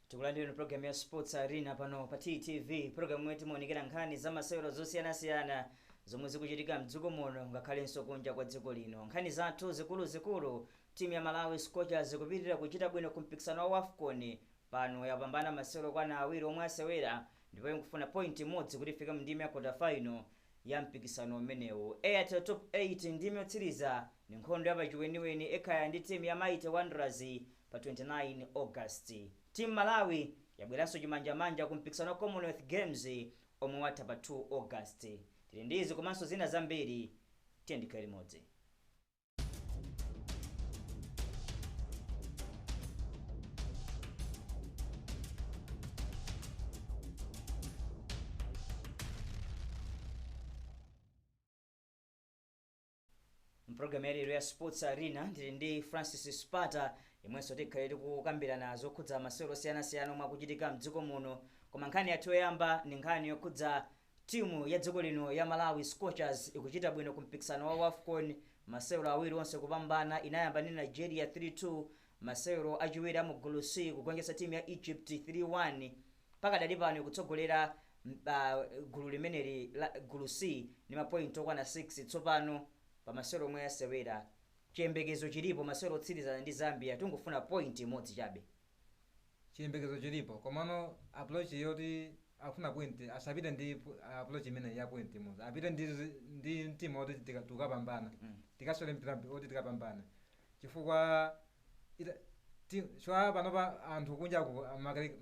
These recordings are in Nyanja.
tikulandireni programu ya sports arena pano pa ttv programu imene timaonekera nkhani za masewero zosiyanasiyana zomwe zikuchitika mdziko muno ngakhalenso kunja kwa dziko lino nkhani zathu zikuluzikulu Timu ya Malawi Scorchers kupitilira kuchita bwino ku mpikisano wa Wafcon. Pano yapambana masewero okwana awiri omwe asewera ndipo ikufuna point imodzi kuti ifike mu ndime ya quarter final ya mpikisano umenewu. Airtel Top 8 Ndime yotsiriza ndi nkhondo ya pachiweniweni Ekhaya ndi timu ya Mighty Wanderers pa 29 August. Team Malawi yabweranso chimanjamanja ku mpikisano wa Commonwealth Games omwe watha pa 2 August. Tili ndi izi komanso zina zambiri, tiyeni tikhale limodzi. mpulogalamu yalero ya sports arena ndili ndi francis spata inunso tikhale tikukambirana zokhudza masewero osiyanasiyana omwe akuchitika mdziko muno koma nkhani yathu yoyamba ndi nkhani yokhudza Timu ya dziko lino ya Malawi Scorchers ikuchita bwino ku mpikisano wa Wafcon, masewero awiri onse kupambana, inayamba ndi Nigeria 3-2, masewero achiwiri a mu gulu C kugonjetsa timu ya Egypt 3-1, pakadali pano ikutsogolera gulu limeneli la gulu C ndi ma point okwana 6 tsopano pa masewero omwe yasewera. Chiyembekezo chilipo masewero otsirizana ndi Zambia, tingofuna point imodzi chabe. chiyembekezo chilipo komano approach yoti akufuna point asapite ndi pu- approach imeneyi ya point imodzi apite ndi, zi- ndi mtima oti tika- tikapambana Mm. tikasole mpira mp- oti tikapambana chifukwa ita- ti- chwa panopa anthu kunja aku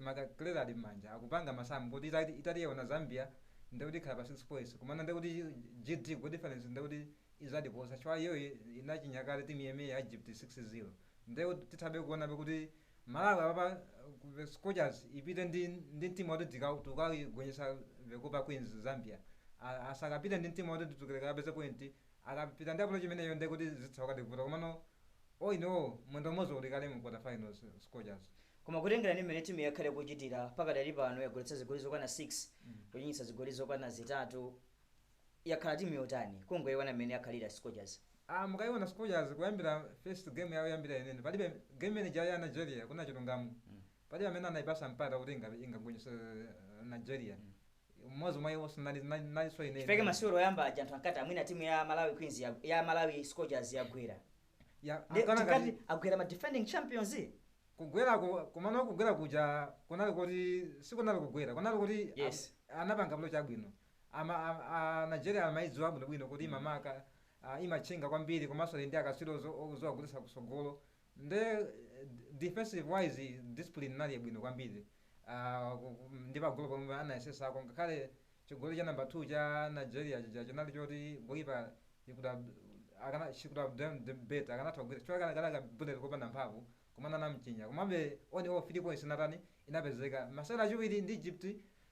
makaleta ali m'manja akupanga masamu kuti itati- itatiyewa na zambia ndekuti ikhala pa 6 points komano ndekuti gd goal difference ndekuti izatiposa chwa iyoyi inachinyakale timu imeneyi ya egypt 6 0 Nde tithabe kuonabe kuti Malawi apapa scorchers ipite ndi ndi mtima oti tika tikagonjetsa the Copper Queens Zambia. A, asakapite ndi mtima oti titukile kakapeze point. Akapita ndi approach imeneyo nde kuti zitha kukavuta komano all in all mwendo umodzi uli kale mu quarter finals scorchers. Koma kutengera ndi mmene timu yakhala ikuchitira pakadali pano yagoletsa zigoli zokwana 6 kuchinyitsa zigoli zokwana zitatu. yakhala timu yotani? Kungoiona mmene yakhalira Scorchers. Aaa mukaiona Scorchers kuyambira first game yawo yoyambira yeniyeni palibe game imene ija ya Nigeria kunena chilungamo palibe amene anaipatsa mpata kuti inga- ingagonjetse Nigeria mmodzi mwa iwo sinali nali- nalinso ine Chifukwa chake masewero oyamba aja anthu ankati amwina timu ya Malawi Queens ya, ya Malawi Scorchers yagwera. Ya- Ndi ankana tinkati ngati- agwera ma defending champions. kugwera ku- komano kugwera kuja kunali kuti sikunali kugwera kunali kuti a- Yes. anapanga malo chabwino Ama, a, a Nigeria amaidziwa bwinobwino kuti Mm. imamaka, a, imatchinga kwambiri komanso ali ndi akatswiri ozo- oziwa kugoletsa kutsogolo. Nde eh, d- defensive wise discipline inali yabwino kwambiri. A, ku- ku- ndi pagolo pomwe anayesesako ngakhale chigoli cha number 2 cha Nigeria chija chinali choti goalkeeper he could have akana she could have done the better akanatha kugwira chifukwa kanali kanali ka bullet kopanda mphamvu koma anamchinya. Komabe all in all 3 points inatani inapezeka. Masewero achiwiri ndi Egypt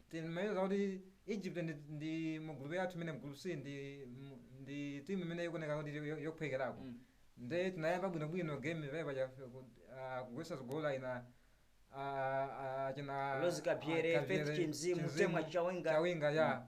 timayeza kuti Egypt ndi ndi mu group yathu imene group C ndi mu- ndi team imene ikuoneka kuti yo- yophwekerako. Mm. Nde tinayamba bwino bwino game pale paja ah, kugwesa zigoli ina ah, ah, china Rose Kabzere, ah, Kabzere, Faith Chinzimu, Chinzimu, Temwa Chawinga. Chawinga ya. Mm.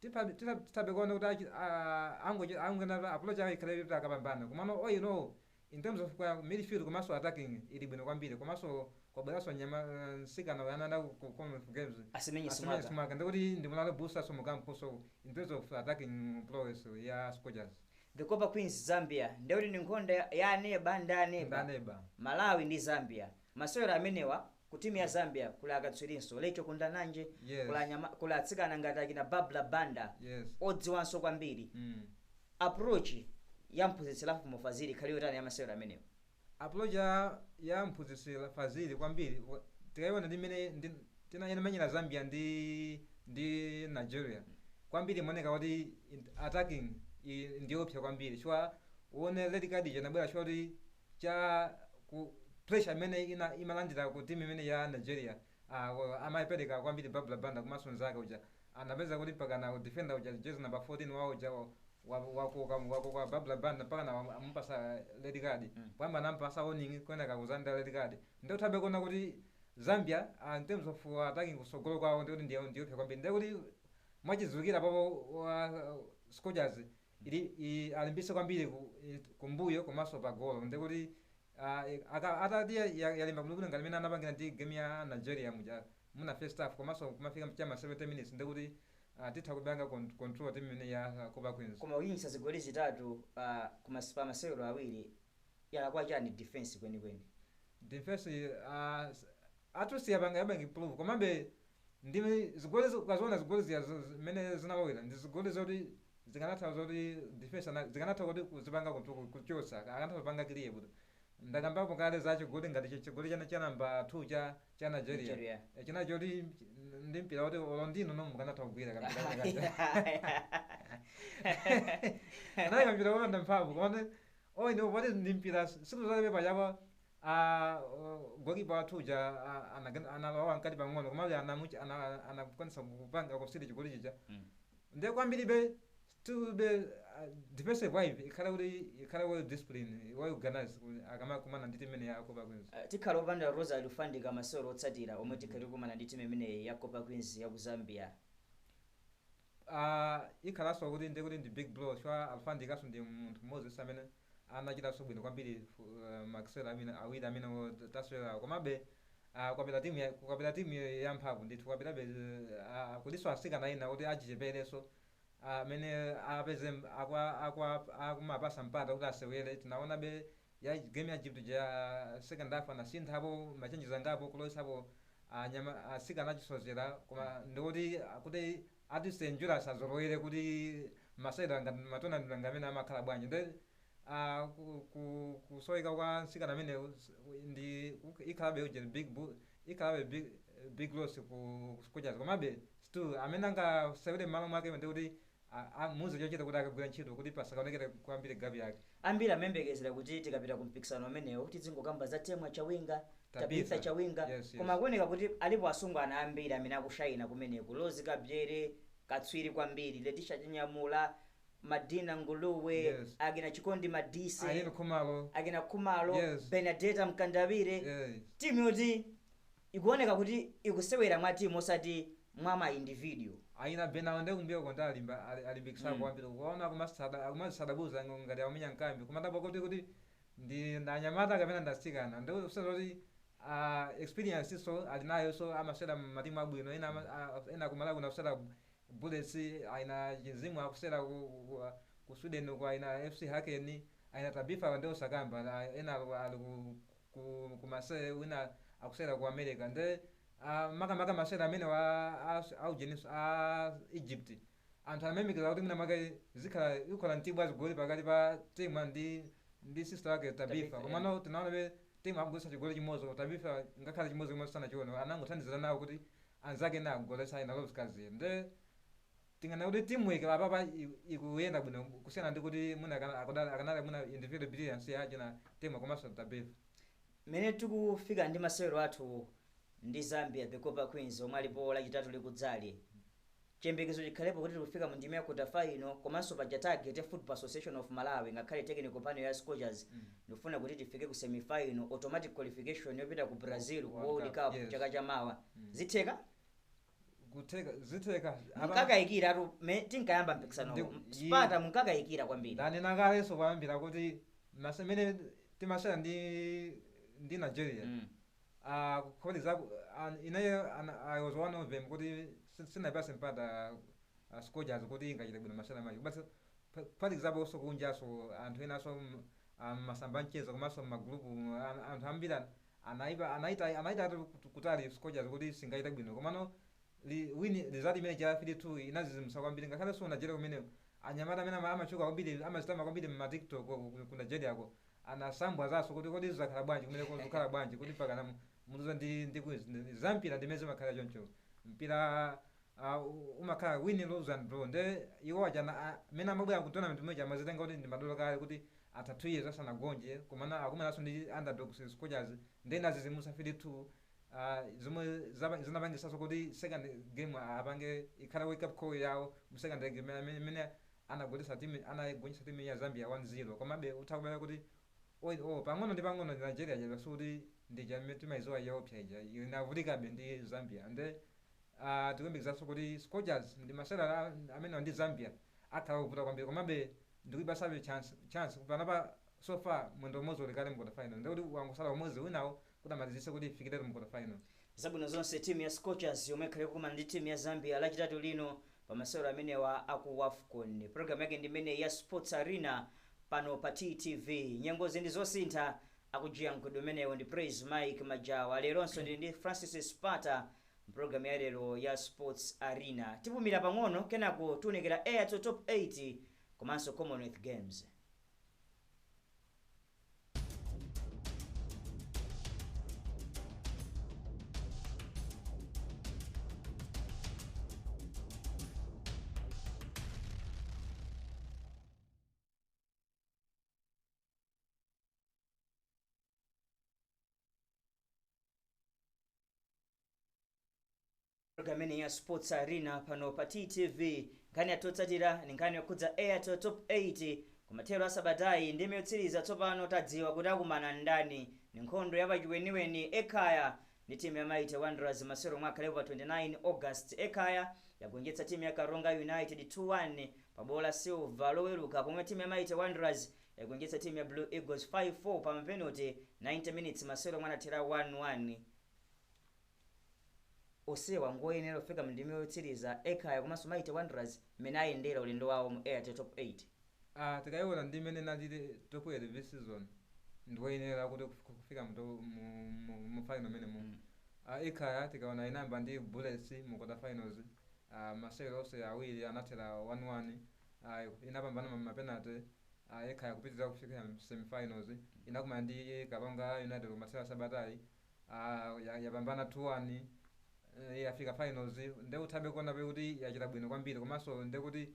Tithabe tithabe tithabe kuona kuti achi a angoche angoonetsa approach yawo ikhale yoti akapambane komano all in all in terms of kwa midfield komanso attacking ili bwino kwambiri komanso kwabweranso mnyama mtsikana uyu ananda ku ku Commonwealth Games Asimenye Asimenye Simwaka. Simwaka ndiye kuti ndi morale booster so mu camp so in terms of attacking prowess ya Scorchers. Ve Copper Queens Zambia ndiye kuti ndi nkhondo ya ya aneba ndi ndi aneba aneba. Malawi ndi Zambia. Masewero amenewa Ku team ya Zambia kuli akatswirinso, Racheal Kundananji, kuli Yes. anyama, kuli atsikana ngati achina Barbra Banda Yes. odziwanso kwambiri. Mm. Approach ya mphunzitsi Lovemore Fazili ikhale yotani ya masewero amenewa? Approach ya, ya mphunzitsi la- Fazili kwambiri wa- tikayiona ndi mmene ndi, tina, inamenyera Zambia ndi, ndi Nigeria kwambiri imaoneka kuti in- attacking i- ndiyopsa kwambiri chifukwa uone red card ija inabwera chifukwa kuti cha ku pressure imene ina imalandira ku team imene ya Nigeria ah, wa- amayipereka kwambiri Barbra Banda komanso nzake uja anapezeka kuti mpakana defender uja jersey number 14 wawo uja wa- wa- wakoka wakoka Barbra Banda mpakana wa- amupasa red card Mm. koyamba anampasa warning kenaka kuzanda red card nde utha kuona kuti Zambia ah, in terms of uh, attacking kusogolo kwawo ndikuti ndiyo ndiyoopsya kwambiri ndikuti mwachidziwikira apopo scorchers ndi i alimbitse kwambiri ku, i, kumbuyo komanso pagolo ndi kuti ah, i- aka- itati ya- ya- yalimba bwinobwino ngati imene anapangira ndi game ya nigeria muja muna first half komanso kumafika cha ma 70 minutes ndi kuti ah, titha kupanga con- control team imene ya ah, copper queens koma kuchinyitsa zigoli zitatu pa kumas- pa masewero awiri yalakwa chani defense kwenikweni defense uh, at least yapanga yapanga improve komabe Ndi zigoli ukaziona zigoli zija mmene zinalowera ndi zigoli zoti zikanatha zoti defense ana zikanatha kuti kuzipanga kutu- kuchotsa akanatha kupanga clear bwino. Ndakambapo kale za chigoli ngati chi- chigoli cha cha namba 2 cha cha Nigeria. Nigeria. E, Chinali choti ch- ndi mpira woti olo ndinu no mukanatha kugwira kampira kake kaja. Anali kampira kopanda mphamvu koma you know poti ndi mpira sikuzalepe pachapa a goalkeeper wathu uja a- anagen- analowa mkati pang'ono komabe anamuch- ana- anakwanisa kupanga concede chigoli chija Mm. nde kwambiribe still uh, defensive wise ikhale kuti ikhale well discipline well organized kuti akamakumana ndi timu imene ya Copper Queens Eh, tikhala opanda Rose Alufandika masewero otsatira omwe tikhala tikumana ndi timu imeneyi ya Copper Queens ya ku Zambia Aaa ikhalanso kuti ndiye kuti ndi big blow chifukwa Alufandikanso ndi munthu mmodzinso amene anachitanso bwino kwambiri mu aah masewero amene awiri amene wo tasewerawo komabe aah kwapita timu ya kwapita timu yamphamvu ndithu kwapitabe aah kulinso atsikana ena oti achicheperenso aah amene apeze akwa akwa akumapatsa mpata kuti asewere tinaonabe ya game ya Egypt ija ya second half anasinthapo ma changes angapo kulowesapo anyama asikana achisozera koma ndikuti kuti at least and Julius azolowere kuti masewera ngati matonamenti ngati amene amakhala bwanji nde ah, ku- ku- kusoweka kwa nsikana amene ndi kuk- ikhalabe ujeni big bu- ikhalabe big, big loss ku Scorchers komabe still amene angasewere mmalo mwake ndikuti a amuuze chochita kuti akagwira ntchito kuti pasakaonekere kwambiri gap yake. Ambiri amayembekezera kuti tikapita ku mpikisano umenewu tidzingokamba za Temwa Chawinga, Tabitha Tabitha. Chawinga, Yes, yes. koma kuoneka kuti alipo asungwana ambiri amene akushayina kumeneku, Rose Kabzere, katswiri kwambiri, Letisha Chinyamula, Madina Nguluwe, Yes. akina Chikondi Madise, Ireen Khumalo. akina Khumalo, Yes. Benadeta Mkandawire, Yes. timu yoti Ikuoneka kuti ikusewera mwa team osati mwa ma individual. Ayina Bena awa nde kumbuyoko nde alimba ali alimbikisako kwambiri ukuwaona akumasada akumasadabuza ng ngati akumenya nkambi kumadabwa kuti kuti ndi ndi anyamata kapena ndi atsikana nde kusonyeza kuti aah experience-nso ali nayonso amasewera mmatimu abwino ena ama aah ena ku Malawi kuno akusewera ku Bullets ayina Chinzimu akusewera ku ku ku Sweden uko ayina FC Hacken ayina Tabitha awa nde osakamba aah ena ali ku. ku ku Marseille wina akusera ku America nde ah, makamaka masere amenewa a- a- aujeninso a Egypt anthu amayembekeza kuti mwina mwake zikhala ikhala mtibu wa zigoli pakati pa Temwa ndi ndi sister wake Tabitha, Tabitha yeah. komano tinaonabe Temwa akugolesa chigoli chimodzi koma Tabitha ngakhale chimodzi chimodzi sanachione anangothandizira nawo kuti anzake ena agolese aina Rose Kabzere nde Tinganene kuti team work pa apapa ikuyenda bwino kusiyana ndi kuti mwina akanali mwina individual brilliance ya achina Temwa komanso Tabitha. Mwina tikufika ndi masewero athu ndi Zambia the Copper Queens omwe alipo lachitatu likudzali, chiyembekezo chikhalepo kuti tikufika mu ndime ya quarter final komanso paja target ya Football Association of Malawi ngakhale technical panel ya Scorchers ndikufuna kuti tifike ku semi final, automatic qualification yopita ku Brazil ku World Cup chaka chamawa. Zitheka? kutheka zitheka Ata- munkakayikiratu mme- tinkayamba mpikisano Ndi- Spata yi- munkakayikira kwambiri ndanena kalenso kuyambira kuti mase- mene timasewera ndi ndi nigeria Mm. Ah, kodi nzoona ineyo i was one of them kuti si- sinapase mpata ah, scorchers kuti ingachite bwino masewera match but pa- pali zapansi kunjaso anthu enaso m- ah, masamba a mchezo komanso mmagrupu anthu ambiri an- Anaipa, anaita, anaita ayi kut- kutaya scorchers kuti singachite bwino komano li, win result imene cha 3-2 inadzidzimutsa kwambiri ngakhale so ku Nigeria kumeneko anyamata amene ama- amatchuka kwambiri amadzitama kwambiri mma tiktok ko ku- ku Nigeria ko anasambwadzanso kuti kodi zakhala bwanji kumeneko zikukhala bwanji kuti pakana mu- muluza ndi ndi queens ndi, zampira ndi mmene zimakhalira choncho mpira a umakhala win lose and draw nde iwo aja na- a- amene amabwera ku tournament muja amadzitenga kuti ndi madolo kale kuti atha 2 years asanagonje komana akumananso ndi underdogs scorchers nde inadzidzimutsa 3 2 a zomwe zapa- zinapangisanso kuti second game a- apange ikhale wake up call yawo mu second game imene- imene imene anagolesa team anagonjetsa team ya Zambia 1 0 komabe utha kupeza kuti oyi oh, pang'ono ndi pang'ono ndi Nigeria ija yasi kuti ndi ija imene timaidziwa yoopsa ija inavutikabe ndi Zambia nde Tikuyembekezanso kuti Scorchers ndi masewera amenewa ndi Zambia akhala ovuta kwambiri komabe ndikuipatsabe chance panopa so far mwendo umodzi uli kale mu quarter final ndiye kuti wangotsala umodzi winawo kuti amalizitse kuti ifikiretu mu quarter final. Zabwino zonse timu ya Scorchers yomwe ikhale ikukumana ndi timu ya Zambia lachitatu lino pa masewero amenewa a ku Wafcon. Program yake ndi imeneyi ya Sports Arena pano pa TTV. Nyengozi ndi zosintha, akujijirika mkulu ameneyo ndi Praise Mike Majawa. Leronso ndili ndi Francis Spata M'programu ya lero ya Sports Arena, tipumira pang'ono kenako tiunikira Airtel Top 8 komanso Commonwealth Games. Program imene ya Sports Arena pano pa TTV nkhani yathu yotsatira ndi nkhani yokhudza Airtel Top 8 kumathero a sabatayi ndi imene yotsiriza tsopano tadziwa kuti akumana ndani ndi nkhondo ya pachiweniweni Ekhaya ndi timu ya Mighty Wanderers masewero omwe akhalepo pa 29 August Ekhaya yagonjetsa timu ya Karonga United 2-1 pa bwalo la Silver loweruka pomwe timu ya Mighty Wanderers yagonjetsa timu ya Blue Eagles 5, 4 pa mapenate, 90 minutes masewero omwe anathera 1, 1. Onsewa ngoyenera kufika mu ndime yotsiriza, Ekhaya komanso Mighty Wanderers mmene ayendera ulendo wawo mu Airtel Top 8. Aaa tikayiona ndi mmene inalili top 8 this season ndiwoyenera kuti kuf- kufika mu to- mu- mu- mu final mmenemo Mm. Ah, Ekhaya tikaona inayamba ndi Bullets mu quarter finals Ah, masewero onse awiri anathera 1-1 inapambana ma mapenate ah, Ekhaya kupitirira kufika semifinals inakumana ndi karonga united kumathero a sabatayi ah, ya- yapambana 2-1 eh, yafika finals nde uthabe kuona kuti yachita bwino kwambiri komanso nde kuti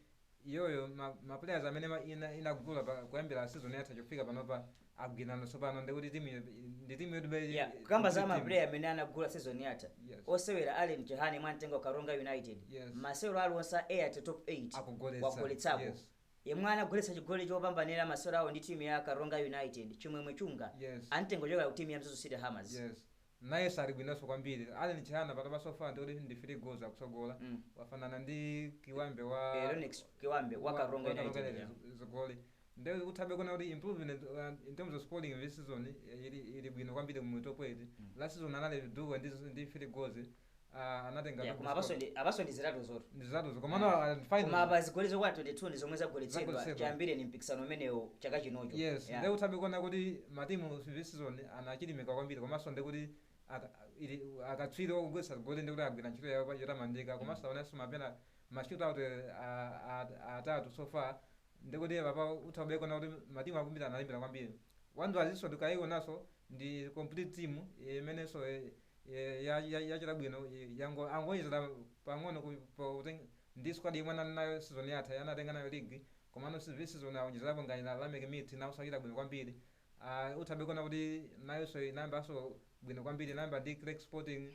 iyoyo ma, ma players amene ma- ina, inagula pa, kuyambira season yatha chaufika panopa agwirizana tsopano ndikuti timu yo- ndi timu yoti bai- Yeah, kukamba za kuti timu- mapuleya amene anagula season yatha Yes. osewera allen chihana anamutenga ku karonga united Yes. masewero aliwonse a airtel top 8 Akugoletsa, wagoletsapo yes. yemwe anagoletsa chigoli chopambanira masewero awo ndi timu ya karonga united chimwemwe chunga Yes. anamutenga kuchokera ku timu ya mzuzu city hammers yes nayenso ali bwinonso kwambiri allen chihana pakadali so far ndikuti ndi three goals akutsogola Mm. wafanana ndi kiwambe wa Eh, Lennox kiwambe wa karonga united yeah. zigoli Nde uthabe kuona kuti improvement in terms of scoring this season ili ili bwino kwambiri mu top 8. Last season anali duo ndi ndi 3 goals uh, anatenga yeah, koma apanso ndi apanso ndi zitatuzotu ndi zitatuzo komano yeah. uh, final koma apa zigoli zokwana 22 ndi zomwe zagoletsedwa chiyambireni mpikisano umenewo chaka chinocho yes yeah. nde uthabe kuona kuti matimu this season anachilimika kwambiri komanso ndekuti akatswiri ogoletsa zigoli ndi kuti agwira ntchito yawo yotamandika komanso aonenso mapenalty shootout atatu so far ndekuti apapa uthabe kuona kuti matimu akumbira analimbira kwambiri Wanderers nso tikaionanso ndi complete team imenenso yachita bwino yango angowonjezera pang'ono ku- po- kuteng- ndi squad yomwe anali nayo season yatha anatenga nayo league komano this season awonjezerapo ngati ana Lameck Mithi nawonso achita bwino kwambiri Uh, uthabe kuona kuti nayonso inayambanso bwino kwambiri inayamba ndi Creck Sporting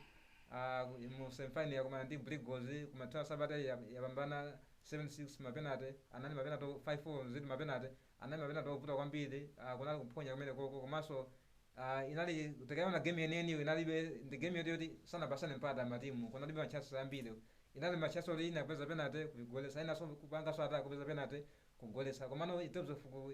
uh, mu semifinal yakumana ndi Blue Eagles kumathero a sabata ya- yapambana 7-6 mapenate anali mapenate 5-4 zedi mapenate anali mapenate ovuta kwambiri uh, kunali kuphonya kumenekoko komanso uh, inali tikaona game yeniyeniyo inalibe ndi game yoti yoti sanapatsane mpata matimu kunalibe matchasi ambiri inali matchasi oti ina kupeza penate kuigoletsa inanso kupanganso attack kupeza penate kugoletsa komano in terms of ku-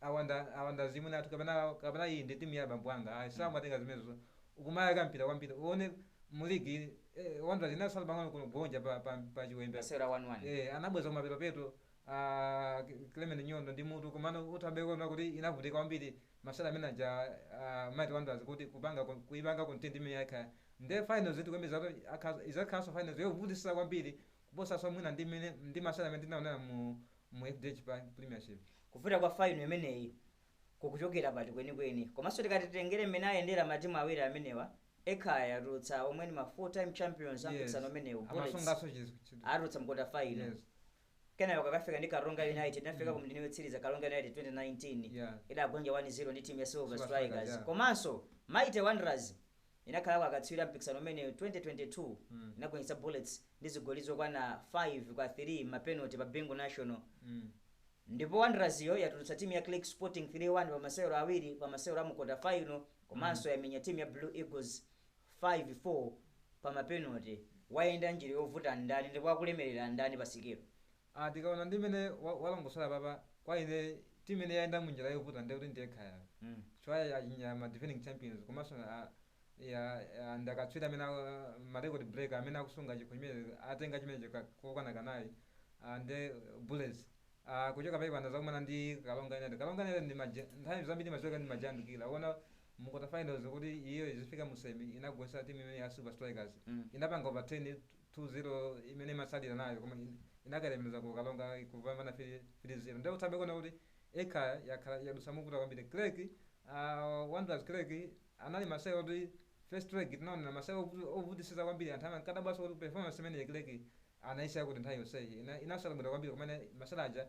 awa nda awa nda azimwene athu kapena kapena iyi ndi timu ya abambo anga ayi samatenga zimenezo ukumayaka mpira kwambiri uone mu ligi eh, wanderers inasala pang'ono kugonja pa, pa, pa chiwembe masewera 1-1 eh, anabweza kumapetopeto ah, K- clement nyondo ndi mutu komano utha be kuona kuti inavutika kwambiri masewera amene aja ah, mighty wanderers kuti kupanga ku- kuipanga contain timu imene ya Ekhaya nde finals iyi tikuyembeza kuti akha- izakhalanso finals yovutisa kwambiri kuposaso mwina ndi mene ndi masewera amene tinaonera mu mu FDH Bank Premiership. Kuvuta kwa final imeneyi kukuchokera pati kwenikweni? Komanso tikati titengere mmene ayendera matimu awiri amenewa, Ekhaya yatulutsa omwe ndi ma 4 time champions a Yes. mpikisano umenewu, Bullets Amasunganso chiz- chitu- atulutsa mu quarter final. Yes. Kenako kakafika ndi Karonga United, inafika ku ndime yotsiriza Karonga United 2019. Yeah. Idagonja 1-0 ndi timu ya Silver Silver Strikers, Strikers. yeah. Komanso Mighty Wanderers inakhalako akatswiri a mpikisano umenewu 2022 inagonjetsa Bullets ndi zigoli zokwana 5 kwa 3 mma penalty pa Bingu National ndipo Wanderers yo yatulutsa timu ya Creck Sporting 3-1 pa masewero awiri pa masewero amu kota final komanso yamenya timu ya Blue Eagles 5 4 pa ma penalty. Wayenda njira yovuta ndani ndipo akulemerera ndani pa sikelo? Aaa tikaona ndi mene wa walongosola apapa kwa ine team imene yayenda munjira yovuta ndiye kuti ndi Ekhaya yo chifukwa yachinya ma defending champions komanso a ya ya ndi akatswiri amene a ma record breaker amene akusunga chikho chimene atenga chimenecho ka kokwana kanayi aah ndiye bullets aah kuchoka pamenepa ndazakumana ndi karonga united karonga united ndi maje nthawi zambiri imasewera ndi ma giant killer uwone mu kota finals kuti iyoyo izifika mu semi inagonjesa team imene ya silver strikers inapanga overturn 2-0 imene imatsalira nayo koma inakalemeza ku Karonga kupambana 3-0 nde utha be kuona kuti ekhaya yakhala yadutsa movuta kwambiri creck uh, Wanderers creck anali masewero oti first leg tinaonera masewero ovu- ovutisiza kwambiri anthu amankadabwaso kuti performance imene creck anaisiya kuti nthawi yonseyi Ina- inasewera bwino kwambiri kumene masewero aja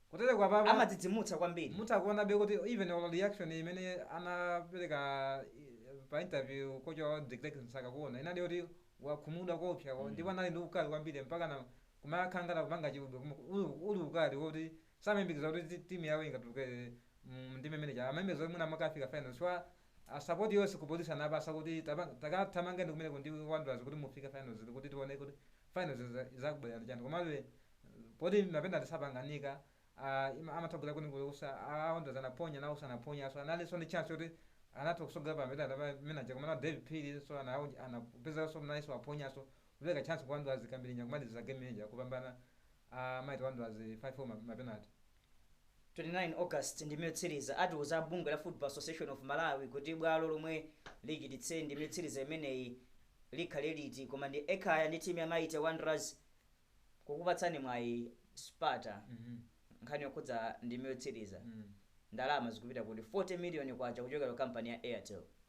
Kutereku apapa amadzidzimutsa kwambiri. mutha kuonabe kuti even olo reaction imene anapereka eh, pa interview kocha wawo De Klerk Msakakuona inali yoti wakhumudwa koopsa ko ndipo anali ndi ukali kwambiri mpaka na kumakhala ngati akupanga chibwibwi koma uli, uli ukali woti samayembekeza kuti ti- timu yawo ingatuluke mu ndime imene ija amayembekeza kuti mwina akafika final chifukwa A sapoti yose ku police anapasa kuti tapanga thamangeni kumeneko ndi Wanderers kuti mufike finals kuti tione kuti finals izakubwelera ndi chani komabe poti mapenati sapanganika a amatha kugwera kwina kulikose a Wanderers anaphonya nawoso anaphonyaso analinso ndi chance yoti akanatha kusogola pa mapenati amene aja komano a Davie Phiri so anawonj anapezeraso nayeso waphonyaso kupeleka chance ku Wanderers kambirinya kumaliza game ija kupambana a mighty Wanderers 5 4 ma mapenati. 29 August ndime yotsiriza, atiuza a bungwe la Football Association of Malawi kuti bwalo lomwe lichititse ndime yotsiriza imeneyi likhale liti koma ndi Ekhaya ndi timu ya Mighty Wanderers kukupatsani mwayi Sparta nkhani yokhudza ndime yotsiriza ndalama zikupita kuti 40 million kwacha kuchokera ku kampani ya Airtel.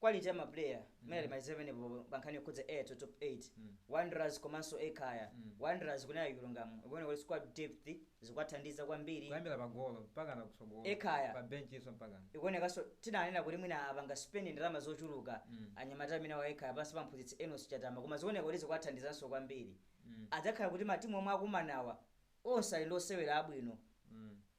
quality ya ma player mene alimaliza penepo pankhani yokhudza Airtel top 8 Wanderers komanso Ekhaya Wanderers kunena chilungamo ikuona kuti squad depth zikuwathandiza kwambiri kuyambira pa golo mpakana kutsogolo Ekhaya. pa bench iso mpaka ikuonekanso tinanena kuti mwina apanga spend ndalama zochuluka Mm. anyamata amene a Ekhaya pansi pa mphunzitsi Enos Chatama koma zikuoneka kuti zikuwathandizanso kwambiri Mm. adzakhala kuti matimu omwe akumanawa onse ali ndi osewera abwino Mm.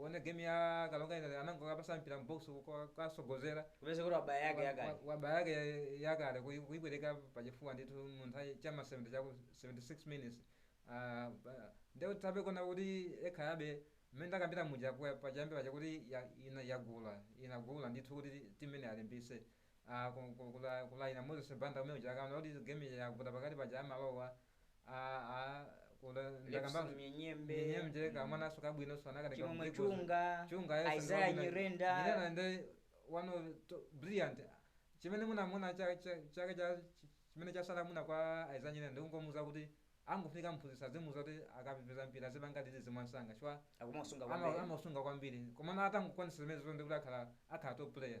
One game ya Karonga ina anangokapasa mpira mu box kusogozera kupeza kuti wabaya yake yakale wabaya yake yakale kui- kuibwereka pachifuwa ndithu mu nthawi cha ma 70 cha ku 76 minutes Ah, ba- nde tikuona kuti Ekhayabe mmene ndakambira muja kwa- pachiyambi paja kuti ya- ina yagula inagula ndithu kuti timu ine alimbise Ah, ku- ku- kula- kuli aina Moses Banda amene uja akaona kuti game yavuta pakati paja amalowa aa kuda Levison ndakamba Mnyenyembe. Mnyenyembe Mm. kamwana ka soccer bwinoso anakadeka Chimwemwe mdziko. Chunga, chunga yes, Isaiah ndi kabwino. Nyirenda. Nyirenda ndi one of to- brilliant chimene munamuna cha- cha- chake cha chi- chimene chasala muna kwa Isaiah Nyirenda ndikungomuza kuti angofunika mphunzitsi azimuza kuti akapeza mpira azipanga release mwansanga chifukwa amausunga ama- kwambiri amausunga kwambiri komano atangokwanisa zimene zonse kuti akhala akhala top player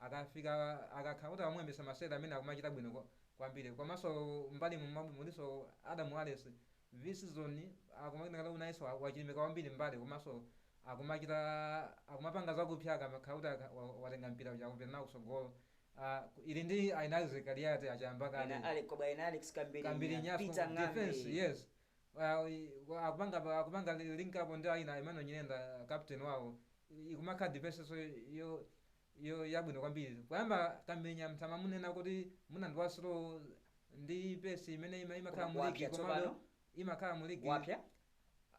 akafika akakhala kuti amuyambisa masewera amene akumachita bwino kwa- kwambiri komanso mbalimu mwa- mulinso Adam Wallace this season akumaoneka kuti nayenso wa- wachilimika kwambiri mbali komanso akumachita akumapanga zakupya akamakhala kuti aka- wa- watenga mpira uja akupita nawo kusogolo Ah, ku- ili ndi aina Isaac Kaliati achiyamba kale aina Alex Koba, aina Alex Kambiri, Kambiri Nya, Nyafu, Peter Ng'ambi. defense yes akupanga akupanga link up ndi aina Emmanuel Nyirenda captain wawo ikumakhala defense so yo yo yabwino kwambiri kuyamba Kambiri anthu amamunena kuti mwina ndi wa slow ndi pace imene ima- imakhala Koma mu ligi kuwapya komabe tsopano? imakhala mu ligi wapya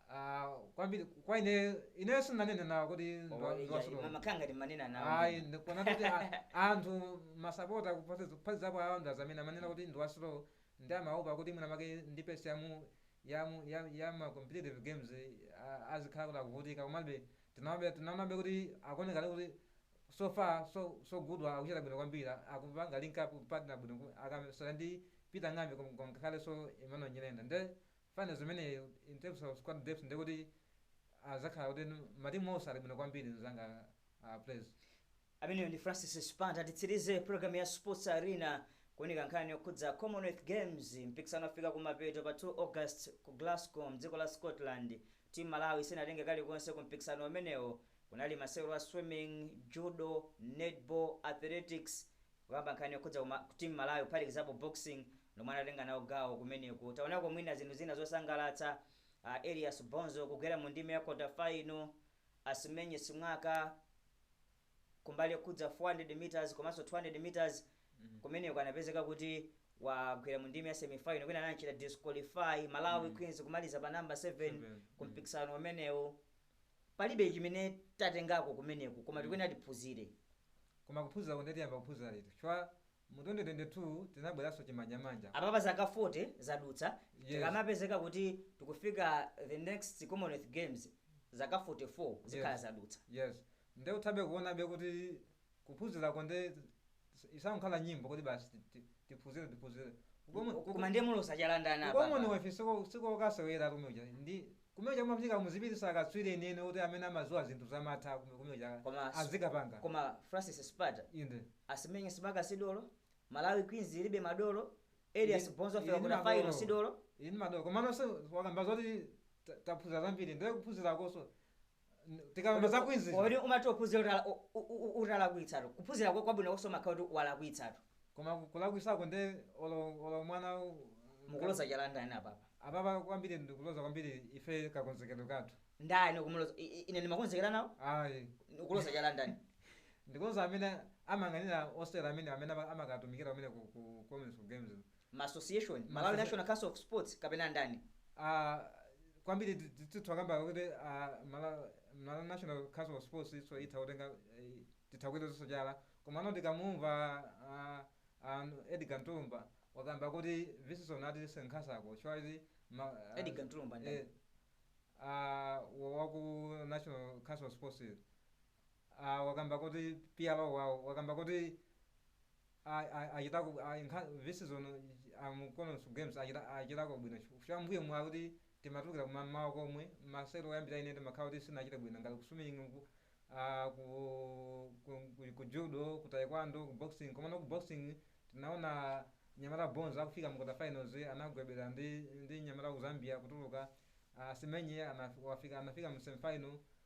ah, kwambiri kwa ine ine sinanene nawo kuti ndi wa- ndi wa slow mwakhala ngati ndimanena nawo ayi ndikuona kuti a- anthu masapota kuphazi- kuphazizapo awo ndi amene amanena kuti ndi wa slow Nde amaopa kuti mwina mwake ndi pace ya mu ya mu ya ya ma competitive games a azikhala kuti akuvutika komabe tinaobe tinaonabe kuti akuoneka ali kuti so far so so good wa akuchita bwino kwambiri a akupanga link up partner bwino ku akamasewera ndi Peter Ng'ambi kom kom ngakhalenso Emmanuel Nyirenda nde finals zimenezi in terms of squad depth ndekuti azakhala kuti matimu onse ali bwino kwambiri mzanga a Prez. Ameneyo ndi Francis Sipanta. Titsirize pulogalamu ya Sports Arena kuunika nkhani yokhudza Commonwealth Games. Mpikisano wafika kumapeto pa 2 August ku Glasgow m'dziko la Scotland. Team Malawi sinatenge kalikonse ku mpikisano umenewo. Kunali masewero a swimming, judo, netball, athletics, kukamba nkhani yokhudza team Malawi kuphatikizapo boxing nomwe anatenga nawo gawo kumeneko. Taonako mwina zinthu zina zosangalatsa, Elias Bonzo kugwera mu ndime ya quarter final, Asimenye Simwaka kumbali yokhudza 400 meters komanso 200 meters kumeneko anapezeka kuti wagwera mu ndime ya semi final kwina anachita disqualify Malawi Queens kumaliza pa number 7 ku mpikisano umenewo palibe chimene tatengako kumeneko koma tikuyenera tiphunzire koma kuphunzira ko nde tiyamba kuphunzira lero chifukwa Mu 2022 tinabweranso chimanjamanja. Apapa zaka 40 zadutsa tikamapezeka kuti tikufika the next Commonwealth Games zaka 44 zikhala zadutsa. Yes. Nde muthabe kuonabe kuti kuphunzirako nde isangokhala nyimbo kuti basi ti- ti- tiphunzire tiphunzire. Ku Common- ku- Koma ndiye muloza chala ndani apapa? Commonwealth siko- sikokasewera kumene kuja ndi Kumene kuja kumafunika muzipititsa akatswiri enieni oti amene amadziwa zinthu zamatha kume kumene kuja azikapanga. koma Francis Sipanta Inde. Asimenye Simwaka si dolo, Malawi queens ilibe madolo, Ili, Elias Bonzo wafika quarter final si dolo. Ili ndi madolo. Komano nso wakamba zoti ta, taphunzira zambiri nde kuphunzirakonso tikamba za queens Kodi umati uphunzira utala- u- u- u- utalakwitsatu kuphunzira kwa- kwabwino konso umakhala kuti walakwitsatu koma kulakwisako nde olo olo mwana u- mukuloza chala ndani apapa apapa kwambiri ndikuloza kwambiri ife kakonzekedo kathu ndani kumuloza i- i- ine ndimakonzekera nawo ayi ukuloza chala ndani ndikuloza amene amayang'anira osewera amene amene ama- amakatumikira amene ku ku Commonwealth Games ma association Ma malawi associa- national council of sports kapena ndani Ah, kwambiri ti- ti- titha kukamba kuti ah, Mala- Malawi national council of sports nso itha kutenga eh, titha kuyilozanso chala komano tikamumva ah, ah, Edgar Ntulumbwa wakamba kuti this season atisenkhatsako chifukwa Edgar Ntulumbwa ndani? waku national council of sports ah, wakamba kuti PRO wawo wakamba kuti a- a- achitako a- nkha- this season mu Commonwealth Games achita- achitako bwino chifukwa cha m'mbuyomu kuti timatulukira kumamawa komwe masewero oyambira timakhala kuti sitinachite bwino ngati kuswimming ku ah, ku, ku, ku, ku judo ku taekwondo ku boxing komano ku boxing tinaona mnyamata Bonzo akufika mu quarter finals anagwebana ndi ndi mnyamata wa ku Zambia kutuluka Asimenye anaf- wafika anafika mu semifinal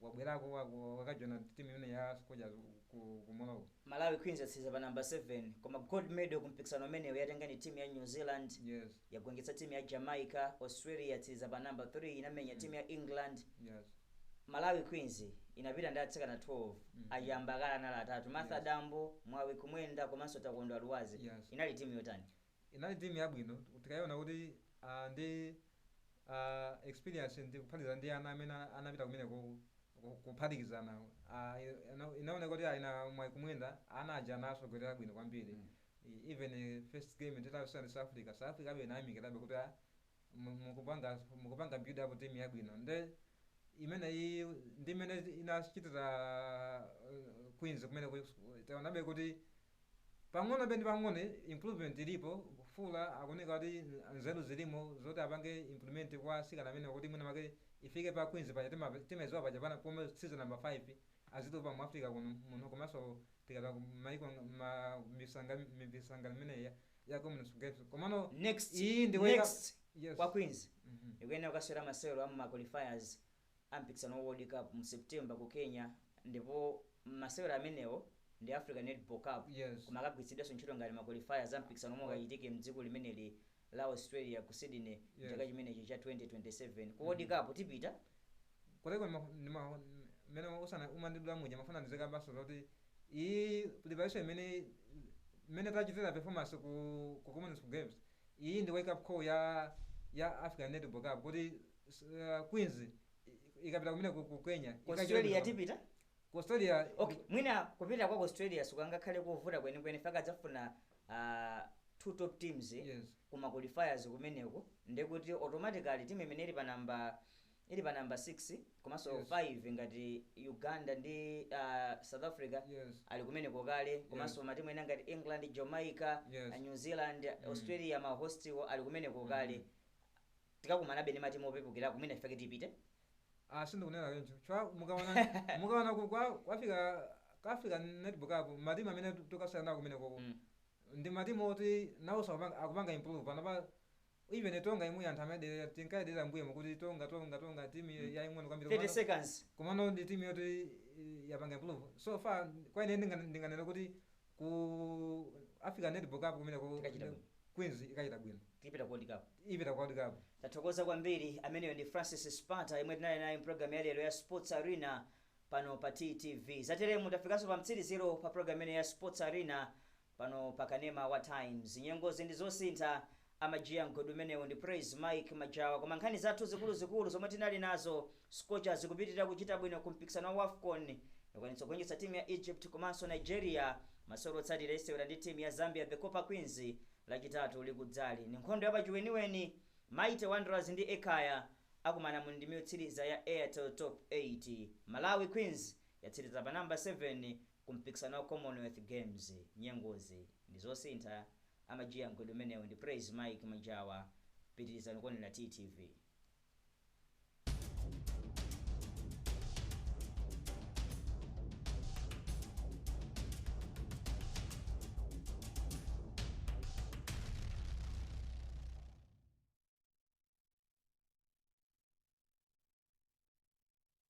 Wabwerako wako wakajoina team imeneyi ya Scorchers ku ku Morocco? Malawi Queens yatsiriza pa number 7 koma gold medal ku mpikisano umenewu yatenga ndi team ya New Zealand Yes. yagonjetsa team ya Jamaica, Australia yatsiriza pa number 3 inamenya team ya England, Yes. Malawi Queens inapita ndi atsikana 12 Mhm. achiyambakale anali atatu Martha Yes. Dambo, Mwawi Kumwenda komanso Takondwa Lwazi Yes. inali team yotani? inali team yabwino tikaiona kuti uh, ndi uh, experience ndi kuphatikizana ndi ana amene anapita kumenekoko ku- kuphatikizana uh, ina- inaoneka kuti a ina Mwawi Kumwenda ana aja anasogolera bwino kwambiri I- even eh, first game titawinana ndi south africa south africa be inayamikirabe kuti ah, mu- mukupanga mukupanga build up team yabwino nde imene iyi ndi imene inachitira uh, Queens kumene ku- taonabe kuti pang'ono penipang'ono improvement ilipo Fuller akuoneka kuti nzeru zilimo zoti apange implement kwa asikana amene kuti mwina make ifike pa Queens paja tima- timayidziwa paja pana pomwe tili number 5 azitupa mu Africa kuno muno komanso tikata maiko ma misanga mipisanga imeneyi ya- ya Commonwealth Games komano next yes kwa queens Mhm. ikuyenera kukasewera masewero a mma qualifiers a mpikisano wa world cup mu september ku kenya ndipo masewero amenewo ndi africa netball cup yes koma akagwiritsidwanso ntchito ngati ma qualifiers a mpikisano omwe akachitike mdziko limeneli la australia ku sydney Yes. chaka chimenechi cha 2027 ku world cup tipita koteko ndimene uja umandidula muja mafuna ndineneko basi zoti iyi preparation imene imene tachitira performance ku ku Commonwealth Games iyi ndi wake up call ya ya African Netball Cup kuti uh, Queens i- ikapita kumene ku, ku Kenya ku ikachita bwino. tipita ku Australia okay mwina kupita kwa ku australia sikungakhale kovuta kwenikweni chifukwa adzafuna ah, two top teams Yes. kuma qualifiers kumeneko ndekuti automatically timu imene ili pa namba ili pa number 6 komanso Yes. 5 ngati uganda ndi ah, south africa Yes. ali kumeneko kale komanso matimu ena ngati england jamaica Yes. ah, new zealand australia mahostiwo ali kumeneko kale tikakumanabe ndi matimu opepukira kumene chifukwa chake tipite Ah, sindikunena choncho. Chifukwa mukaona mukaona ku kwa kwa African Netball Cup matimu amene tikakumane kumene koko. Mm. Ndi matimu oti nawoso akupanga akupanga improve pano pa Even Tonga yemweyi anthu amayidelera tinkayidelera mmbuyomo kuti Tonga Tonga Tonga team mm. yaying'ono kwambiri 30 komano seconds komano ndi team yoti eh, yapanga improve so far kwa ine ndinga- ndinganena kuti ku Africa Netball Cup kumeneko Tikachita bwino. Queens ikachita bwino tipita World Cup ipita ku World Cup tathokoza kwambiri ameneyo ndi francis spata yemwe tinali naye mu pulogalamu yalero ya sports arena pano pa ttv zateremu tafikanso pa mtsiriziro pa pulogalamu imene ya sports arena Pano pa kanema wa times nyengozi ndi zosintha amajiya m'godi umenewu ndi praise Mike majawa koma nkhani zathu zikuluzikulu zomwe tinali nazo Scorchers zikupitilira kuchita bwino ku mpikisano wa wafcon yakwanitsa kugonjetsa team ya Egypt komanso Nigeria masewero otsatira isewera ndi team ya Zambia the copper queens lachitatu likudzali ndi nkhondo yapachiweniweni Mighty wanderers ndi Ekhaya akumana mu ndimyotsiliza ya airtel top 8 Malawi queens yatsiliza pa number 7 Ku mpikisano wa Commonwealth Games nyengozi ndi zosintha, amajiya m'godi umenewu ndi praise Mike Majawa, pitilizani kuonera TTV.